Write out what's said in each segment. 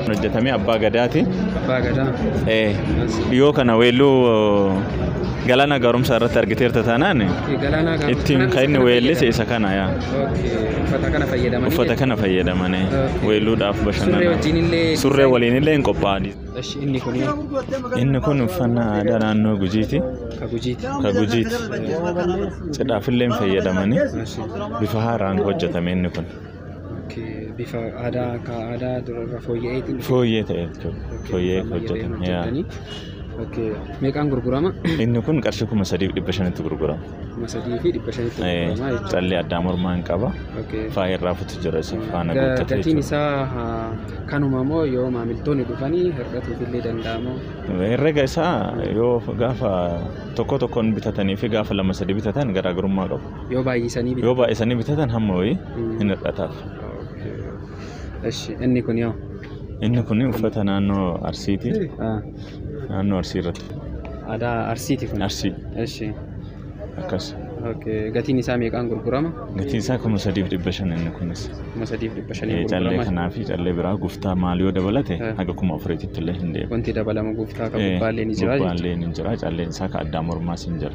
hojjetame abbaa gadaati. Abbaa gadaa. Eh, Dhiyoo kana weelluu galaana gaaromsaa irratti argiteerta taanaan Galaanaa gaafachuu ittiin kanaan kan inni isa weellise fayyadama. isa kana yaa. Okay, Uffata kana fayyadamanii. Uffata kana fayyadamanii Okay. weelluudhaaf Surree bashannana. wajjin illee. Surree waliin illee hin qophaa'an. Esh, Inni kun Inni kun uffannaa aadaa naannoo Gujiiti. ka gujiiti. Ka Gujiiti. Cidhaaf illee hin fayyadamanii Esh. bifa haaraan hojjetame inni kun. Bifa aadaa akka aadaa durarra fooyya'eetiin. Fooyyee ta'e jechuudha. Fooyyee hojjetame. yaa. Meeqaan gurgurama? Inni kun qarshii kuma sadiif dhibba shanitti gurgurama. Kuma sadii fi dhibba shanitti Eh, gurgurama jechuudha. Callee addaa mormaa hin qaba. Okay. Faaya irraa futu jira isa faana Ga- guuttatu Gatiin jechuudha. isaa ah, kanuma moo yoo maamiltoonni dhufanii hir'atuuf illee danda'amoo? Herrega isaa yoo gaafa tokko tokkoon bitatanii fi gaafa lama sadi bitatan garaagarummaa qabu. Yoo baay'isanii bitan. Yoo baay'isanii bitatan hamma wayii hin hir'ataaf. Eshi inni kun yoo. Inni kun uffata naannoo Arsiiti. Naannoo Arsii irratti. Aadaa Arsiiti kun. Arsii. Eshi. Akkas. Gatiin isaa meeqaan gurgurama? Gatiin isaa kuma sadiif dhibba shan inni kunis. Kuma sadiif dhibba shanii gurgurama. Callee kanaa fi callee biraa guftaa maal yoo dabalate haga kuma afuriitti illee hin deemu. Wanti dabalamu guftaa kan gubbaallee ni jira. Gubbaallee ni jira calleen isaa kan addaa mormaas ni jira.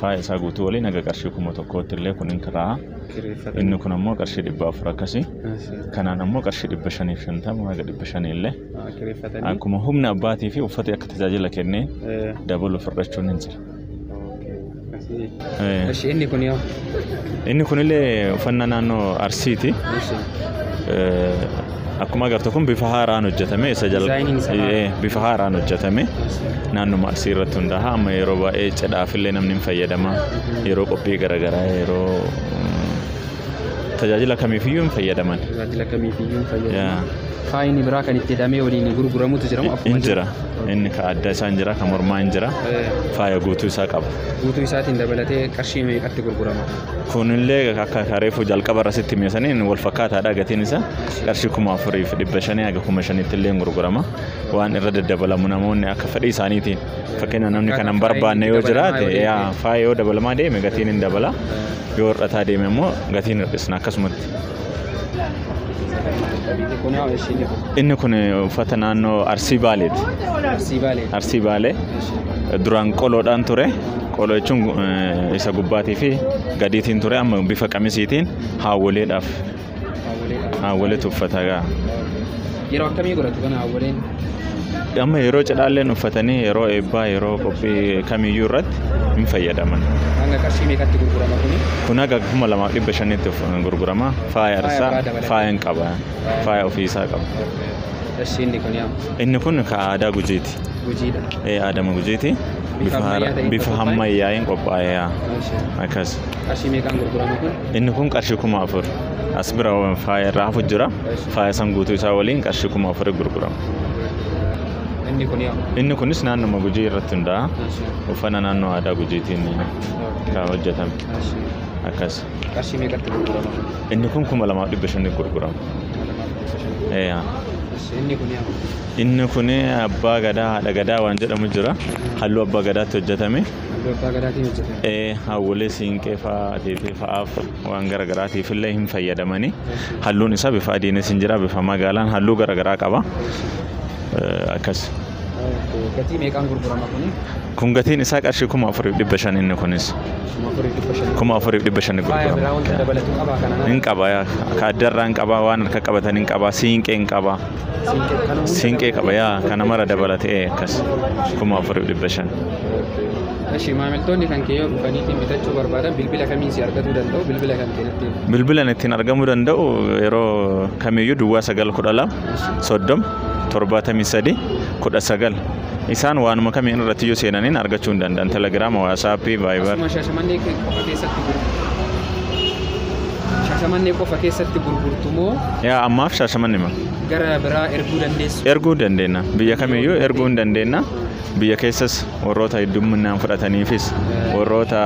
Faaya isaa guutuu waliin haga qarshii kuma tokkootti illee kun hin kiraa'a. Kireeffatan. Inni kun ammoo qarshii dhibba afur akkasi. Asi. Kanaan ammoo qarshii dhibba shaniif shantama haga dhibba shanii illee. Ah, Kireeffatanii. Akkuma humna abbaatii fi uffati akka tajaajila kennee Eh, dabalu fudhachuun hin jira. okay. Asi. Eh, Ashi inni kun yoo. Inni kunillee uffannaa naannoo Arsiiti. Ashi. Eh, Akkuma agartu kun bifa haaraan hojjetame isa Dizaayiniin isaa jalqaba haara. bifa haaraan hojjetame naannuma arsii irratti hundaa'a amma yeroo baay'ee cidhaaf illee namni hin fayyadama yeroo qophii garaagaraa yeroo mm, tajaajila kamiifiyyuu hin fayyadaman Tajaajila kamiifiyyuu hin fayyadamu. Yaa. Faayini biraa kan itti hidhamee waliin gurguramutu jira moo akkuma hin jira inni ka adda isaa hin jira ka mormaa hin jira Eh, faaya guutuu isaa qaba Guutuu isaatiin dabalatee qarshii meeqatti gurgurama? Kunillee akka akka reefu jalqaba irra sitti hime saniin wal fakkaataadha gatiin isaa qarshii kuma afurii fi dhibba shanii haga kuma shaniitti illee gurgurama waan irra daddabalamu namoonni akka fedhii isaaniitiin fakkeenya namni kan hin barbaanne yoo jiraate yaa faaya yoo dabalamaa deeme gatiin hin dabala yoo hir'ataa deeme immoo gatiin hir'isna akkasumatti. Inni kun uffata naannoo Arsii Baaleeti. Arsii Baalee. Arsii Baalee duraan qoloodhaan ture. Qoloo jechuun eh, isa gubbaatii fi gadiitiin ture amma bifa qamisiitiin haawwoleedhaaf Haawwoleedha. haawwoleetu uffata gaa. Yeroo akkamii godhatu kana awwaleen? Amma yeroo cidhaalleen uffatanii yeroo eebbaa yeroo qophii kamiyyuu irratti hin fayyadaman. Hanga qarshii meeqatti gurgurama kuni? Kun haga kuma lamaa fi dhibba shanitti of- gurgurama. Faaya Faaya irsaa biraa dabalatee. faaya hin qaba. Faaya ofii isaa qaba. Qarshii inni kun yaa Inni kun ka aadaa gujiiti. gujiidha. Ee aadama gujiiti. Bifa Bifa ammayyaa haara- ta'een bifa qophaa'e. hammayyaa'een qophaa'eera. Maashaa. Akkas. Qarshii meeqaan gurgurama kun? Inni kun qarshii kuma afur as bira faaya irraa hafu jira. Faaya san guutuu isaa waliin qarshii kuma afur gurgurama. Inni kun yaa. Inni kunis naannuma Gujii irratti hundaa'a. Uffana naannoo aadaa Gujiitiin kan hojjetame. Akkas. Qarshii meeqatti gurgurama? Inni kun kuma lamaaf dhibba shan gurgurama. Inni kun yaa. Inni kun abbaa gadaa haadha gadaa waan jedhamu jira. Halluu abbaa gadaatti hojjetame. Halluu abbaa gadaatiin hojjetame. Ee, hawwilee siinqee fa'aa ateetee fa'aaf waan gara garaatiif illee hin fayyadamani. Halluun isaa bifa adiinis hin jira bifa magaalaan halluu gara garaa qaba. Eh, Akkas. Okay. Gatii meeqaan gurgurama kuni? Kun gatiin isaa qarshii kuma afuriif dhibba shan inni kunis. Kuma afurii dhibba shan. Kuma afuriif dhibba shan Faaya biraa wanta gurgurama. dabalatu qabaa kanaan. Hin qaba yaa. Ka addarraa hin qaba waan harka qabatan hin qaba siinqee hin qaba. Siinqee qaba yaa kana mara dabalatee akkas kuma afuriif dhibba shan. Eshi maamiltoonni kan kee yoo dhufaniitiin bitachuu barbaadan bilbila kamiin si argatuu danda'u bilbila kan kee natti himi. Bilbilan ittiin argamuu danda'u yeroo kamiyyuu duwwaa sagal kudha lama soddoma torbaatamii sadii kudha sagal isaan waanuma kamiin irratti yoo seenaniin argachuu hin danda'an telegiraama waasaappii vaayibar Asuma shaashamannee qofa keessatti gurgurama. Shaashamannee qofa keessatti gurgurtu moo Yaa ammaaf shaashamanne ma? gara biraa erguu dandeessu? Erguu dandeenya. Biyya kamiyyuu erguu hin dandeenya. Biyya keessas warroota hedduminaan fudhataniifis warroota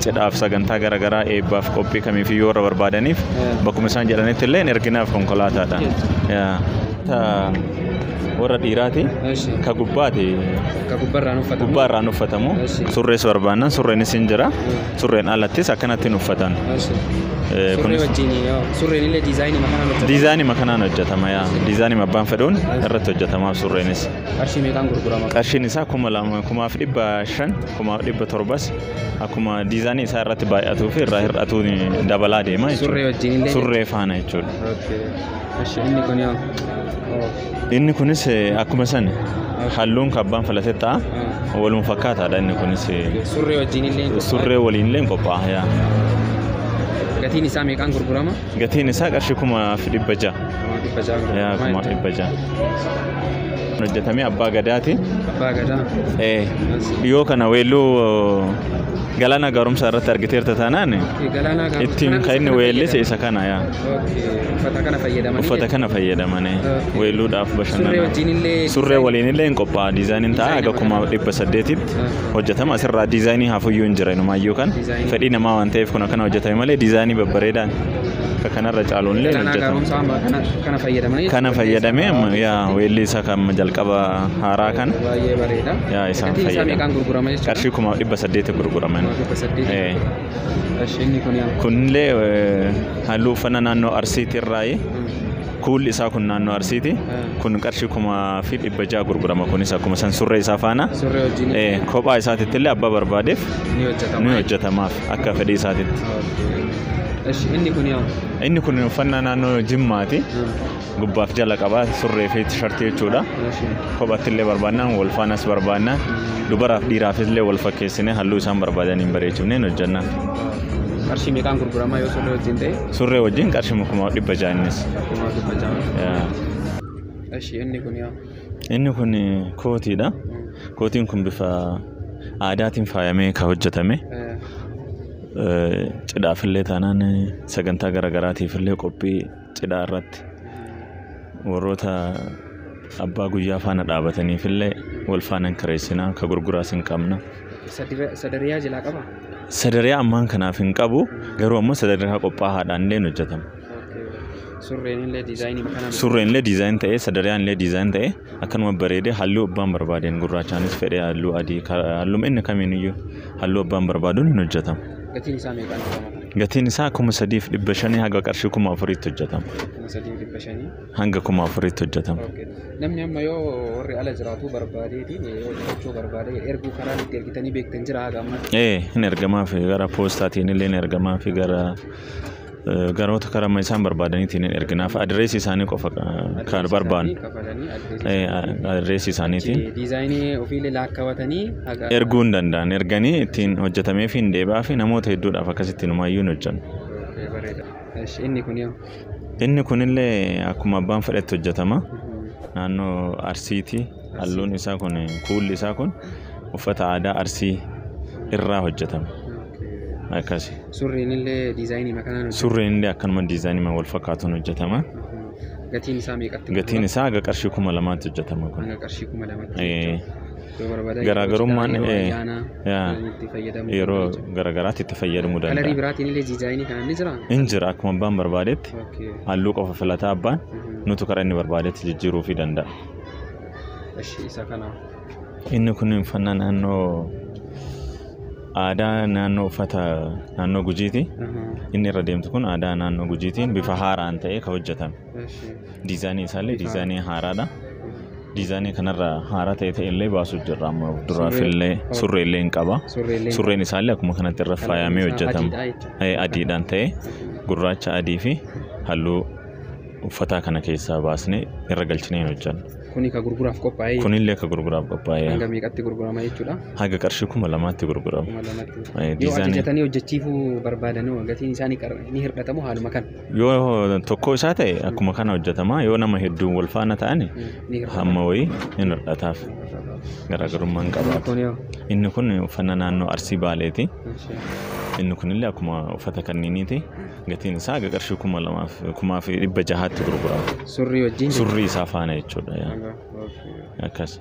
cidhaaf sagantaa garaagaraa eebbaaf qophii kamiifiyyuu warra barbaadaniif bakkuma isaan jedhanitti illee erginaaf konkolaataadha. Yaa. Ta warra dhiiraati Eeshi. ka gubbaati Ka gubbarraan uffatamu. gubbaa irraan uffatamu Eeshi. surrees barbaannan surreenis hin jira Surreen alattis akkanatti hin uffatan. Surree wajjin surreen illee diizaayinii makanaan hojjetama. Diizaayinii makanaan hojjetama yaa. Diizaayinii abbaan fedhuun irratti hojjetamaaf surreenis. Qarshii meeqaan gurgurama? Qarshiin isaa kuma lama kumaaf dhibba shan kumaaf dhibba torbas akkuma diizaayinii isaa irratti baay'atuu fi irraa hir'atuu dabalaa deema jechuudha. Surree wajjin illee. Surree faana jechuudha. Inni kun yoo. Inni kunis akkuma sani halluun kabbaan filate ta'a. Waluma fakkaataadha inni kunis. Surree wajjin illee qophaa'e. Surree waliin illee qophaa'a. yaa. Gatiin isaa meeqaan gurgurama? Gatiin isaa qarshii kuma fi dhibba ja'a. Kuma dhibba ja'a Yaa gurgurama. kuma dhibba ja'a. Hojjetamee abbaa gadaati. Abbaa gadaa. Eh, Dhiyoo kana weelluu galaana gaaromsaa irratti argiteerta taanaan Galaanaa gaaromsaa ittiin kana kan inni isa kana weellise isa kana yaa. Okay. Uffata kana fayyadamanii uffata kana fayyadamanii Okay. weelluudhaaf Surree bashannanaa wajjin illee surree waliin illee hin qophaa'aa diizaayiniin ta'a Diizaayina haga kuma dhibba saddeetitti Ah. hojjetama asirraa diizaayinii hafuyyuu hin jira inumaayyuu kan Diizaayinii. fedhii namaa waan ta'eef kun akkana hojjetame malee diizaayinii babbareedaan akka kanarra caaluun illee hin Kanaa hojjetama gaaromsaa amma kana kana fayyadamanii kana fayyadamee amma yaa weellii isaa kan jalqaba haaraa kana baay'ee bareeda. Yaa, isaan Gatiin isaa fayyadamu. meeqaan gurgurama jechuudha? qarshii kuma dhibba saddeeti gurguraman Kuma dhibba saddeeti. Eh. Kunillee halluu uffannaa naannoo Arsiitii irraayi. Kuulli isaa kun naannoo Arsiiti. Kun qarshii kumaa fi dhibba ja'a gurgurama kunis akkuma san surree isaa faana. Kophaa isaatitti illee abbaa barbaadeef ni hojjetamaaf akka fedhii isaatitti. Inni kun uffannaa naannoo Jimmaati. Gubbaaf jala qaba surree fi tishartii jechuudha. Kophaatti illee barbaannaan wal faanas barbaannaan dubaraaf dhiiraaf illee wal fakkeessinee halluu isaan barbaadaniin bareechifneen hojjenna. Qarshii meeqaan gurguramaa yoo surree wajjin ta'e? Surree wajjin qarshii kuma dhibba ja'a innis. Kumaa dhibba ja'a. Yaa. Eshi inni kun yaa. Inni kun kootiidha. Kootiin kun bifa aadaatiin faayamee kan hojjetame. Eh, Cidhaafillee taanaan sagantaa garaagaraatiifillee qophii cidhaa irratti warroota abbaa guyyaa faana dhaabataniif illee wal faana hin kireessina ka gurguraas hin qabna. Sadira- Sadariyaa jalaa qaba? Sadariyaa ammaan kanaaf hin qabu garuu ammoo sadariyaa qophaa'aadhaan illee hin hojjetama. Surreen illee diizaayinii kanaan Surreen illee diizaayin ta'ee sadariyaan illee diizaayin ta'ee Akkanuma bareede halluu abbaan barbaadeen gurraachaanis fedhee halluu adii halluma inni kamiiniyyuu halluu abbaan barbaaduun hin hojjetama. Gatiin isaa meeqaan hojjetama? Gatiin isaa kuma sadiif dhibba shanii haga qarshii kuma afuriitti hojjetama. Kuma sadiif dhibba shanii. Hanga kuma afuriitti hojjetama. Namni amma yoo warri ala jiraatu barbaadeeti yoo bitachuu barbaade erguu karaan itti ergitanii beektan jira haga ammaa. Ee hin ergamaa fi gara poostaatiin illee hin ergamaa fi gara Garoota karama isaan barbaadaniitiin hin erginaaf adireesii isaanii qofa kan barbaannu. Isaanii kafalanii adreesii Eh, isaanii a- adreesii isaaniitiin. achi diizaayinii ofiillee laakkawatanii haga erguu hin danda'an erganii ittiin hojjetamee fi hin deebi'aa fi namoota hedduudhaaf akkasitti numaayyuu hin hojjennu. Okee, bareeda. Esh, inni kun yoo Inni kunillee akkuma abbaan fedhetti hojjetama. Naannoo Arsiiti. Halluun isaa kun kuulli isaa kun uffata aadaa Arsii irraa hojjetama. akkasi. Surreen illee diizaayiniima kanaan hojjetama. Surreen illee akkanuma diizaayiniima wal fakkaatuun hojjetama. Gatiin isaa meeqatti? Gatiin isaa haga qarshii kuma lamaatti hojjetama kun. Hanga qarshii kuma lamatti. Yoo barbaadame garaagarummaan yeroo garaagaraatti itti fayyadamuu danda'a. Kalarii biraatiin illee diizaayinii kanaan ni jiraa? Hin jira akkuma abbaan barbaadetti halluu qofa filataa abbaan nutu karaa inni barbaadetti jijjiiruu fi danda'a. Inni kun uffannaa naannoo Aadaa naannoo uffata naannoo Gujiiti. Inni irra deemtu kun aadaa naannoo Gujiitiin bifa haaraan ta'ee kan hojjetame. Diizaanii isaallee diizaanii haaraadha. Diizaanii kanarra haaraa ta'e ta'ellee baasuu jirra amma duraafillee surreellee hin qaba. Surreen isaallee akkuma kanatti irra faayamee hojjetama. Adiidhaan ta'e gurraacha adii fi halluu uffataa kana keessaa baasnee irra galchinee hin hojjennu. Kuni ka gurguraaf qophaa'e Kunillee ka gurguraaf qophaa'e hanga meeqatti gurgurama jechuudha. haga qarshii kuma lamaatti gurgurama. Kuma lamatti. Eh, Yoo diizaanii- ajajatanii hojjechiifuu barbaadan hoo gatiin isaanii qar- ni hir'atamu haaluma kan Yoo tokko isaa ta'e akkuma kana hojjetama yoo nama hedduun wal faana ta'ani ni hir'atamu. hamma wayii hin hir'ataaf garaagarummaa hin qabaatu. Kun yoo. Inni kun uffannaa naannoo Arsii Baaleeti. Inni kunillee akkuma uffata kanniiniiti. Gatiin isaa haga qarshii kuma lamaaf kumaa fi dhibba jahaatti gurgurama. Surrii wajjin jechuudha. Surrii isaa faana jechuudha. yaa. Haga- okay. Akkas.